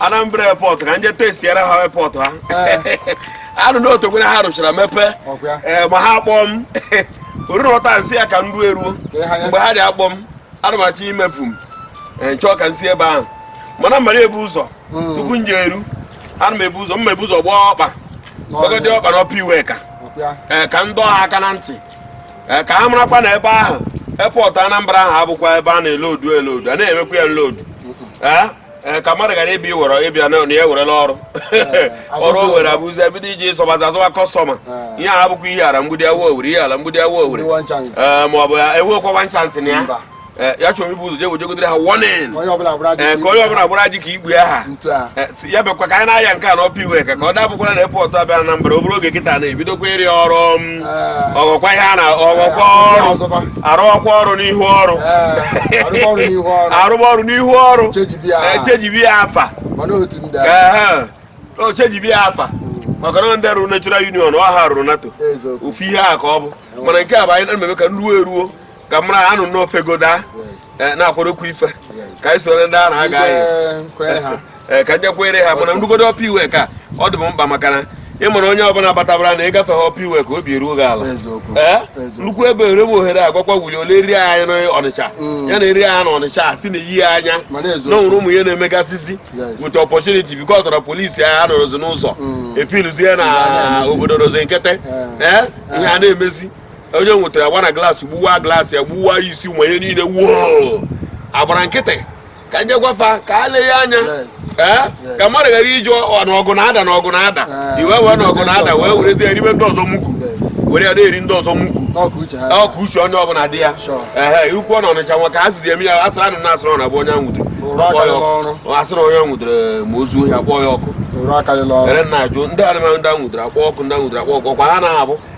Anambra airport ka nje testiere ha airport ha anụ na otu ha rụchara mepee eh, ma ha akpọ m oriri ọta nsị ya ka nru eruo mgbe ha dị akpọ m ana m achọ imefu m eh, nchọọ ka nsi ebe ahụ mana mara ebu ụzọ hmm. tupu nje eru ana m ebu ụzọ mma ebu ụzọ gbaa ọkpa gbagodi ọkpa na Upper Iweka eh, ka m dọọ ha aka na ntị ka ha marakwa na ebe ahụ airport Anambra ahụ abụkwa ebe a na-elodu elodu a na-emekwa ya nlodu Eh, ka mmadụ ghara ịbịa iwere ịbịa na ya ewerela ọrụ eh, ọrụ o were abụzi ebido iji ịsọbazi azụwa customer eh. ihe a bụkwa ihe ala mgbidi awa owere ihe ala mgbidi awa owere ma ọ bụ ya enwekwa one chance na ya ya chọrọ ibu ụzọ jee jegidere ha warning ka onye ọbụla gbara ji ka igbe aha ya bekwa ka anyị na-aya nke a na Upper Iweka ka ọ dabụkwara na airport abịa Anambra obere oge kịta na-ebidokwa ịrụ ọrụ ọghọkwa ihe a na ọghọkwa ọrụ arụọkwa ọrụ n'ihu ọrụ arụba ọrụ n'ihu ọrụ echejibi ya afa ochejibi ya afa hmm. maka na ndị rụrụ natural union ọ ha rụrụ NATO ofu ihe a ka ọ bụ mana nke a bụ anyị na-emebe ka nruo eruo ka mara anụ n'ofe goda eh, na-akwadokwa ife ka anyị soro ndị a na-aga anyị eh, ka nje kwere ha mana nrugodo Upper Iweka ọ dị m mkpa maka na ị mara onye ọbụla batabara na ịgafe ha Upper Iweka obi eruo gị ala ee eh? nnukwu ebe ere m ohere agwakwa Willie o leri anya na Ọnịcha mm. ya neri anya na Ọnịcha sị na eyi anya na o nwere ụmụ ihe na-emegasịzi with opportunity because ọ tọrọ police anyị anọrọzi n'ụzọ mm. efiluzie na obodo rozi nkịtị ee eh? eh? ihe a na-emezi onye nwetara agba na glass gbuwa glass ya gbuwa isi ụmụ ihe niile wuo agbara nkịtị ka nje gwa fa ka a lee ya anya ee ka mmadụ ghara iji na ọgụ na-ada na ọgụ na-ada ah. iwe wee na ọgụ na-ada wee werezie eribe ndị ọzọ mugu were ya na-eri ndị ọzọ mugu ka uche onye ọbụla dị ya ee irukwu na Ọnịcha nwa ka ha sizi eme ya asịrị anụ na a sịrị na bụ onye nwụdere a sịrị onye nwụdere ma o zuo ohi akpọ ya ọkụ ere na ajụ ndị anụmanụ ndị nwụdere akpọ ọkụ ndị nwụdere akpọ ọkụ ọkwa ha na-abụ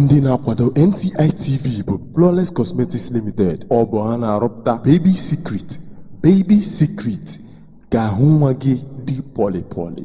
Ndị na-akwado NTI TV bụ Flawless Cosmetics Limited. Ọ bụ ha na-arụpụta Baby Secret, Baby Secret ka ahụ nwa gị dị pọlị pọlị.